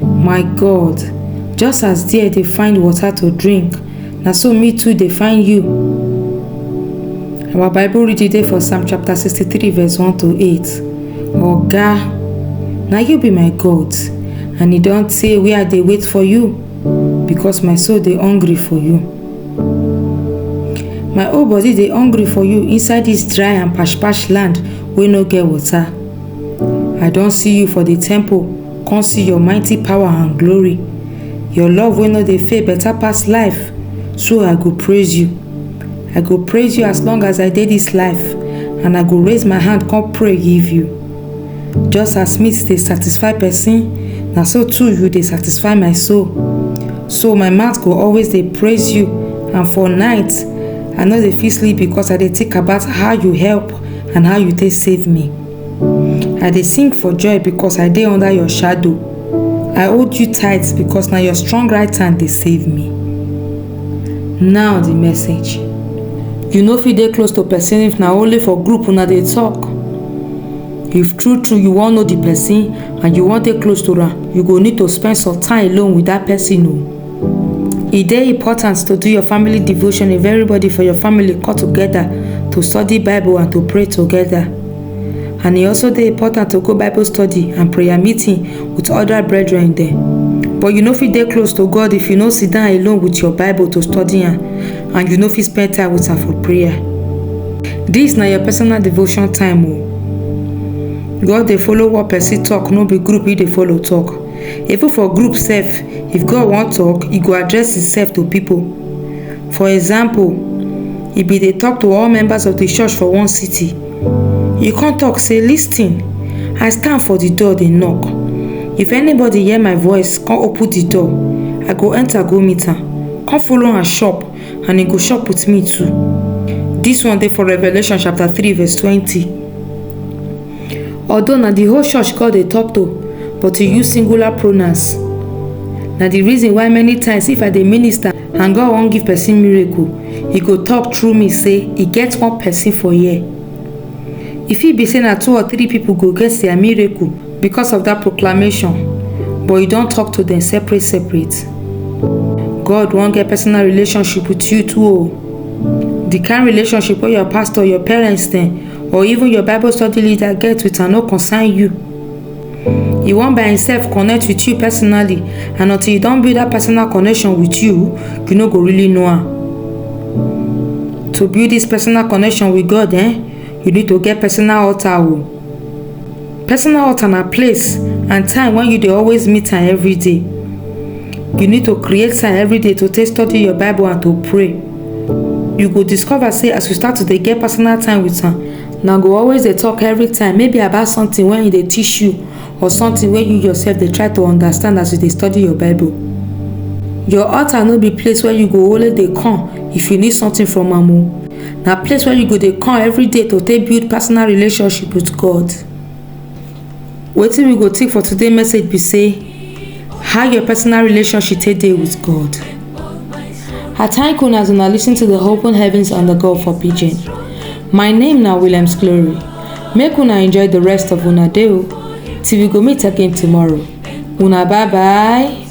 my god just as there dey find water to drink na so me too dey find you our bible reading dey for psalm chapter 63 verse 1 to 8 oga na you be my god and e don tey wey i dey wait for you because my soul dey hungry for you my whole body dey hungry for you inside dis dry and pash pash land wey no get water i don see you for di temple Come see your mighty power and glory. Your love wey no dey fail better pass life. So I go praise you. I go praise you as long as I dey this life and I go raise my hand come pray give you. Just as meat dey satisfy person, na so too you dey satisfy my soul. So my mouth go always dey praise you and for night, I no dey fit sleep because I dey think about how you help and how you take save me. I dey sing for joy because I dey under your shadow. I hold you tight because na your strong right hand dey save me. Now the message. You no fit dey close to person if na only for group una dey talk. If true true you wan know the person and you wan dey close to am, you go need to spend some time alone with that person o. E dey important to do your family devotion if everybody for your family come together to study Bible and to pray together. And e also dey important to go Bible study and prayer meeting with other brethren dem. But you no fit dey close to God if you no sit down alone with your Bible to study am and you no fit spend time with am for prayer. Dis na your personal devotion time o. God dey follow what person talk no be group e dey follow talk. Even for group sef, if God wan talk, e go address himself to people. For example, e bin dey talk to all members of the church for one city. E come talk say, Listen, I stand for the door dey knock. If anybody hear my voice come open the door, I go enter go meet am, come follow am chop and he go chop with me too. This one dey for Revelation chapter 3 verse 20. Although na di whole church God dey tok to but e use singular pronouns. Na di reason why many times if I dey minister and God wan give pesin miracle, e go tok through me say e get one pesin for here. E fit be say na two or three pipo go get dia miracle becos of dat proclamation but e don tok to dem separate separate. God wan get personal relationship wit you too o. Di kain relationship wey your pastor, your parents dem or even your bible study leader get with am no concern you e wan by himself connect with you personally and until you don build that personal connection with you you no go really know am to build this personal connection with god eh you need to get personal altar o personal altar na place and time when you dey always meet am every day you need to create time every day to take study your bible and to pray you go discover say as you start to dey get personal time with am na go always dey talk every time maybe about something wey e dey teach you or something wey you yourself dey try to understand as you dey study your bible your altar no be place where you go only dey come if you need something from am o na place where you go dey come every day to take build personal relationship with god Wetin we go take for today message be say how your personal relationship take dey with God. I thank una as una lis ten to the open heavens and the God for pidgin. My name na Williams Glory. Make una enjoy the rest of una day o till we go meet again tomorrow. Una bye bye.